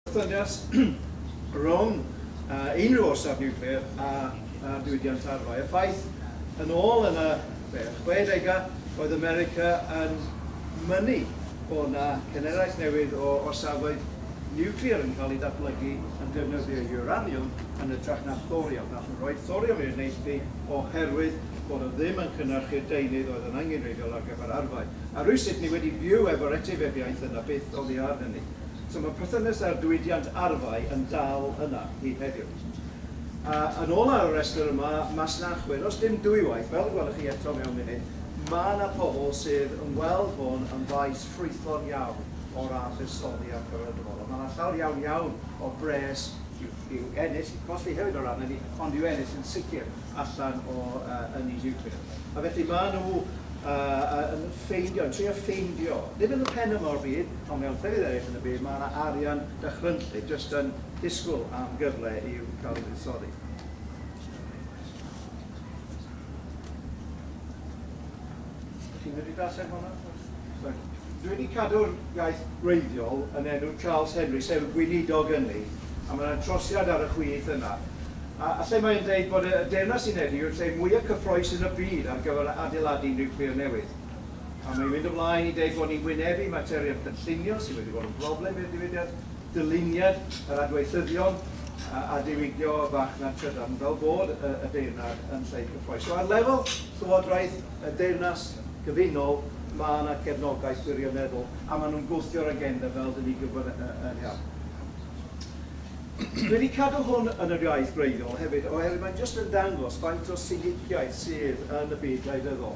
Wrthdynas rhwng unrhyw orsaf niwclear a diwydiant arfau. Y ffaith, yn ôl yn y chwedegau, oedd America yn mynnu bod yna cenhedlaeth newydd o orsafoedd niwclear yn cael eu datblygu yn defnyddio uranium yn hytrach na thorium, a rhoi'r thorium i'r neilltu oherwydd bod o ddim yn cynhyrchu'r deunydd oedd yn angenrheidiol ar gyfer arfau. A rywsut ni wedi byw efo'r etifeddiaeth yna byth oddi ar hynny. So mae perthynas â'r diwydiant arfau yn dal yna hyd heddiw. A yn ôl ar y rhestr yma, masnachwyr, os dim dwywaith, fel y gwelwch chi eto mewn munud, mae yna pobl sydd yn gweld hwn yn faes ffrwythlon iawn o ran buddsoddi ar gyfer y dyfodol. Mae yna llawer iawn, iawn o bres i'w, i'w ennill, i'w colli hefyd o ran hynny, ond i'w ennill yn sicr allan o uh, ynni niwclear. A felly mae nhw uh, yn ffeindio, yn trio ffeindio, ddim yn y pen yma o'r byd, Ond mewn llefydd eraill yn y byd, mae yna arian dychrynllyd jyst yn disgwyl am gyfle i'w cael ei fuddsoddi. Ydych chi'n medru darllen hwnna? Sorry. Dwi wedi cadw'r iaith wreiddiol yn enw Charles Henry, sef gweinidog ynni, a mae yna trosiad ar y chwith yna, a a lle mae e'n dweud bod y Deyrnas Unedig yw'r lle mwya' cyffrous yn y byd ar gyfer adeiladu niwclear newydd. Pan mae'n mynd ymlaen i deud bod ni'n wynebu materion cynllunio sydd wedi bod yn broblem i'r diwydiant, dyluniad yr adweithyddion a diwygio y farchnad trydan fel bod y deyrnad yn llai cyffrous. So ar lefel Llywodraeth y Deyrnas Gyfunol mae yna cefnogaeth gwirioneddol a maen nhw'n gwthio'r agenda fel dyn ni'n gwybod yn iawn. Dwi wedi cadw hwn yn yr iaith gwreiddiol hefyd oherwydd mae'n jyst yn dangos faint o siniciaeth sydd yn y byd gwleidyddol.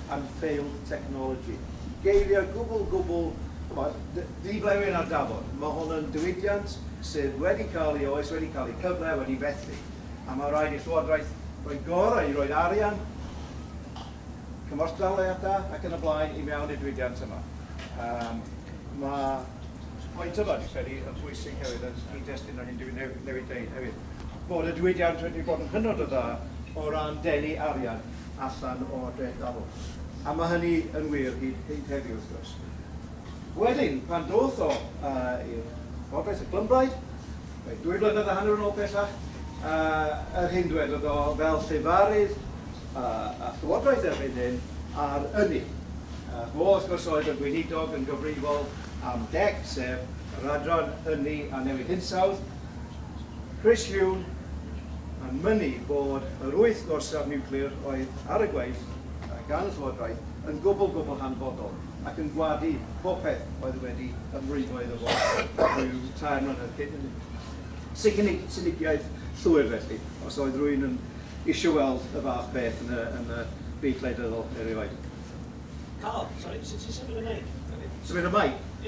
and failed technology. Geiriau gwbl, gwbl, ch'mod, d- di-blewyn ar dafod. Ma' hwn yn diwydiant sydd wedi cael ei oes, wedi cael ei cyfle, wedi fethu, a ma' raid i'r Llywodraeth roi'r gorau i roi'r arian, cymorth daliadau ac yn y blaen i mewn i'r diwydiant yma. Yym ma' pwynt yma, dwi'n credu, yn bwysig hefyd yn nghyd-destun â hyn dwi ne- newydd deud hefyd, bod y diwydiant wedi bod yn hynod o dda o ran denu arian, allan o dreth dafl. A mae hynny yn wir hyd hyd heddiw, wrth gwrs. Wedyn, pan ddoth o uh, i'r Gogledd, y Clymbraid, roedd dwy flynedd a hanner yn ôl pellach, uh, yr hyn dwedodd o fel llefarydd uh, a llywodraeth erbyn hyn ar ynni. Uh, fo, wrth gwrs, oedd y gweinidog yn gyfrifol am DEC, sef yr adran ynni a newid hinsawdd, Chris Huhne yn mynnu bod yr wyth gorsaf niwclear oedd ar y gweill gan y llywodraeth yn gwbl, gwbl hanfodol ac yn gwadu popeth oedd wedi ymrwymo iddo fo ryw tair mlynedd cyn hynny. Sicini- siniciaeth llwyr felly, os oedd rwy'n yn isio weld y fath beth yn y, yn y byd gwleidyddol erioed. Carl, sori, sut ti'n symud y meic? Symud y meic? Diolch.